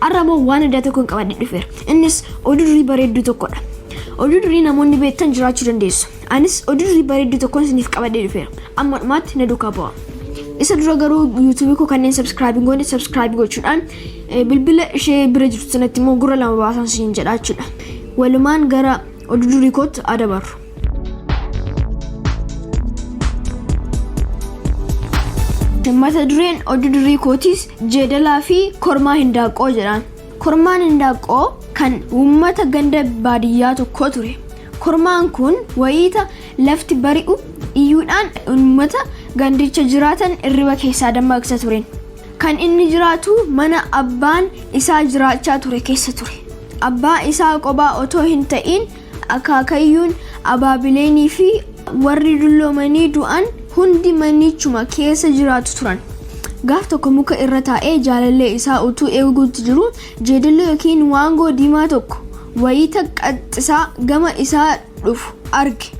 Har'a immoo waan addaa tokkon qabadhe dhufeera. Innis oduu durii bareedduu tokkodha. Oduu durii namoonni beektan jiraachuu dandeessu. Anis oduu durii bareedduu tokkon isiniif qabadhee dhufeera. Amma dhumaatti na duukaa bu'aa. Isa dura garuu YouTube koo kanneen subscribe hin goone subscribe gochuudhaan eh, bilbila ishee bira jirtu sanatti immoo gurra lama baasaan siin jedha jechuudha. Walumaan gara oduu durii kootti adabarru. mata dureen oduu durii kootiis jeedalaa fi kormaa hindaaqqoo jedhaan kormaan hindaaqqoo kan uummata ganda baadiyyaa tokkoo ture kormaan kun wayiita lafti bari'u iyyuudhaan uummata gandicha jiraatan irriba keessaa dammaqsa turen kan inni jiraatu mana abbaan isaa jiraachaa ture keessa ture abbaa isaa qobaa otoo hin ta'iin Akaakayyuun, abaabileenii fi warri dulloomanii du'an hundi manichuma keessa jiraatu turan. Gaaf tokko muka irra taa'ee jaalallee isaa utuu eeguutti jiruu jeedalli yookiin waangoo diimaa tokko wayita qaxxisaa gama isaa dhufu arge.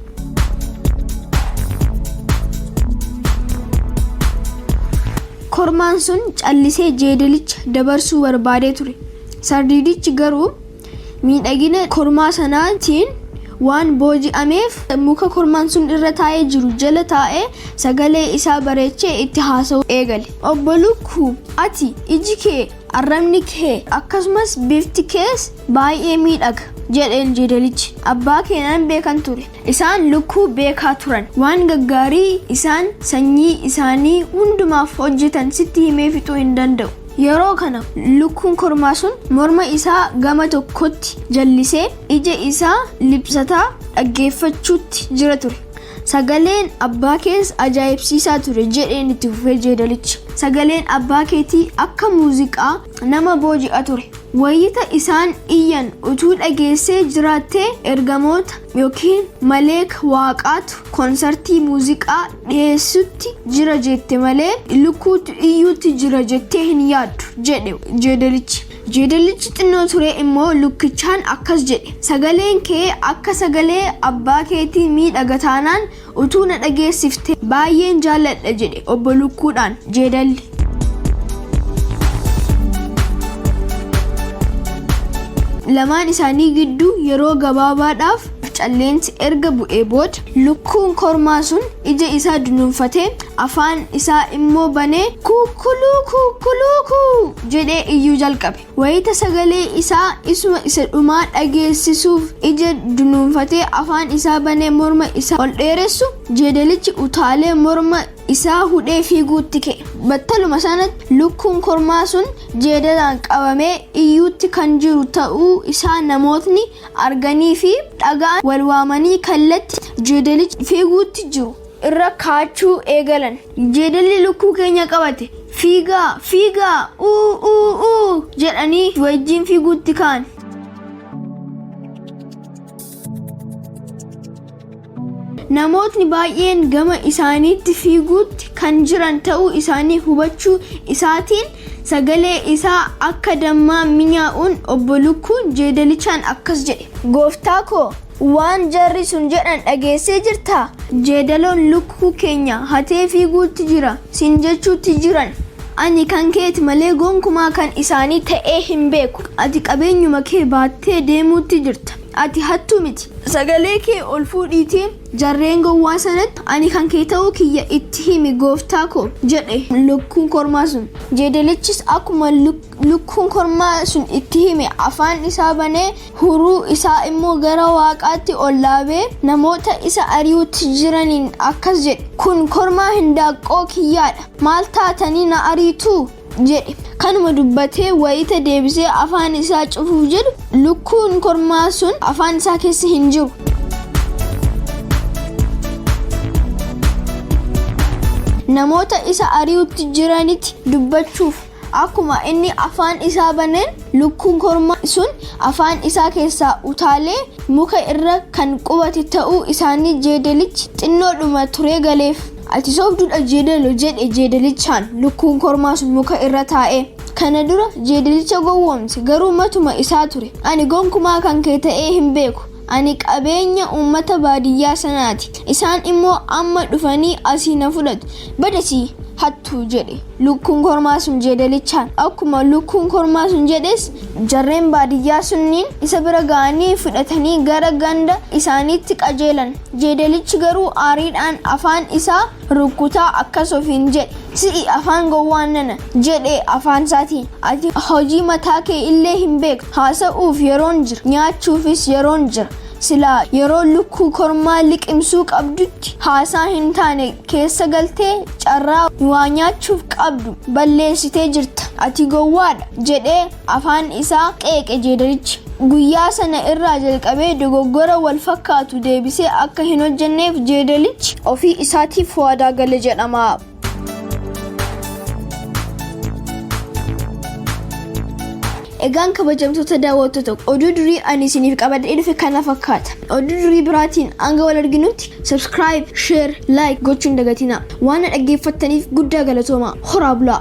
Kormaan sun callisee jeedalicha dabarsuu barbaadee ture. Sardiidichi garuu Miidhagina kormaa sanaatiin waan booji'ameef, muka kormaan sun irra taa'ee jiru jala taa'ee sagalee isaa bareechee itti haasa'uu eegale. Obbo Lukkuu, ati, iji kee, arrabni kee, akkasumas bifti kees baay'ee miidhaga, jedheen jeedalichi. Abbaa kee nan beekan ture. Isaan lukkuu beekaa turan. Waan gaggaarii isaan sanyii isaanii hundumaaf hojjetan sitti himee fixuu hin danda'u. Yeroo kana lukkuun kormaa sun morma isaa gama tokkotti jallisee ija isaa liphsataa dhaggeeffachuutti jira ture. Sagaleen abbaa kees ajaa'ibsiisaa ture jedheen itti fufee jeedalichi. Sagaleen abbaa keetii akka muuziqaa nama booji'a ture. Wayita isaan iyyan utuu dhageessee jiraattee ergamoota ykn maleeka waaqaatu konsartii muuziqaa dhiheessutti jira jette malee lukkuutu iyyuutti jira jettee hin yaaddu, jedhe jeedalichi. Jeedallichi xinnoo turee immoo lukkichaan akkas jedhe, Sagaleen kee akka sagalee abbaa keetii miidhaga taanaan, Utuu na dhageessiftee baay'een jaalladha jedhe Obbo Lukkuudhaan Jeedalli. Lamaan isaanii gidduu yeroo gabaabaadhaaf calleensi erga bu'ee booda lukkuun kormaa sun ija isaa dunuunfatee afaan isaa immoo banee kuukkuluu kuukkuluukuu jedhee iyyuu jalqabe. Wayita sagalee isaa isuma isa dhumaa dhageessisuuf ija dunuunfatee afaan isaa banee morma isaa ol dheeressu, jeedalichi utaalee morma isaa hudhee fiiguutti ka'e. Battaluma sanatti lukkuun kormaa sun jeedalaan qabamee iyyuutti kan jiru ta'uu isaa namootni arganii fi dhaga'an wal waamanii kallatti jeedalichi fiiguutti jiru irra kaachuu eegalan. Jeedalli lukkuu keenya qabate. Fiigaa! Fiigaa! Uu! Uu! Uu! jedhanii wajjin fiiguutti ka'an. Namootni baay'een gama isaaniitti fiiguutti kan jiran ta'uu isaanii hubachuu isaatiin sagalee isaa akka dammaa minyaa'uun obbo Lukkuun jeedalichaan akkas jedhe. Gooftaa koo Waan jarri sun jedhan dhageessee jirtaa? Jeedaloon lukkuu keenya hatee fiiguutti jira siin jechuutti jiran. Ani kan keeti malee gonkumaa kan isaanii ta'ee hin beeku. Ati qabeenyuma kee baattee deemuutti jirta. Ati hattuu miti. Sagalee kee ol fuudhiitii jarreen gowwaa sanatti ani kan kee ta'uu kiyya itti himi gooftaa koo! jedhe lukkuun kormaa sun. Jeedalichis akkuma lukkuu. Lukkuun kormaa sun itti hime, afaan isaa banee, huruu isaa immoo gara waaqaatti ol dhaabee, namoota isa ari'uutti jiraniin akkas jedhe, Kun kormaa hindaaqqoo kiyyaa dha, maal taatanii na ariitu? jedhe. Kanuma dubbatee wayita deebisee afaan isaa cufuuf jedhu, lukkuun kormaa sun afaan isaa keessa hin jiru. Namoota isa ari'uutti jiranitti dubbachuuf. Akkuma inni afaan isaa baneen lukkuun kormaa sun afaan isaa keessaa utaalee muka irra kan qubate ta'uu isaanii jeedalichi xinnoodhuma turee galeef. Ati sobduudha jeedalo jedhe jeedalichaan lukkuun kormaa sun muka irra taa'ee. Kana dura jeedalicha gowwoomse garuu matuma isaa ture. Ani gonkumaa kan kee ta'ee hin beeku. Ani qabeenya uummata baadiyyaa sanaati. Isaan immoo amma dhufanii asii na fudhatu. Bad asii! Hattuu! jedhe lukkuun kormaa sun jeedalichaan. Akkuma lukkuun kormaa sun jedhes jarreen baadiyyaa sunniin isa bira ga'anii fudhatanii gara ganda isaaniitti qajeelan. Jeedalichi garuu aariidhaan afaan isaa rukkutaa akkas ofiin jedhe, Si'i afaan gowwaa nana! jedhe afaansaatiin. Ati hojii mataa kee illee hin beektu. Haasa'uuf yeroon jira, nyaachuufis yeroon jira. Silaa yeroo lukkuu kormaa liqimsuu qabdutti haasaa hin taane keessa galtee carraa waa nyaachuuf qabdu balleessitee jirta. Ati gowwaadha! jedhee afaan isaa qeeqe jeedalichi. Guyyaa sana irraa jalqabee dogoggora wal fakkaatu deebisee akka hin hojjenneef jeedalichi ofii isaatiif waadaa gale jedhama. Egaan kabajamtoota daawwattoota oduu durii ani isiniif qabadhee dhufe kana fakkaata. Oduu durii biraatiin hanga wal arginutti subscribe, share, like gochuun dagatinaa. Waan na dhaggeeffattaniif guddaa galatoomaa. Horaa bulaa!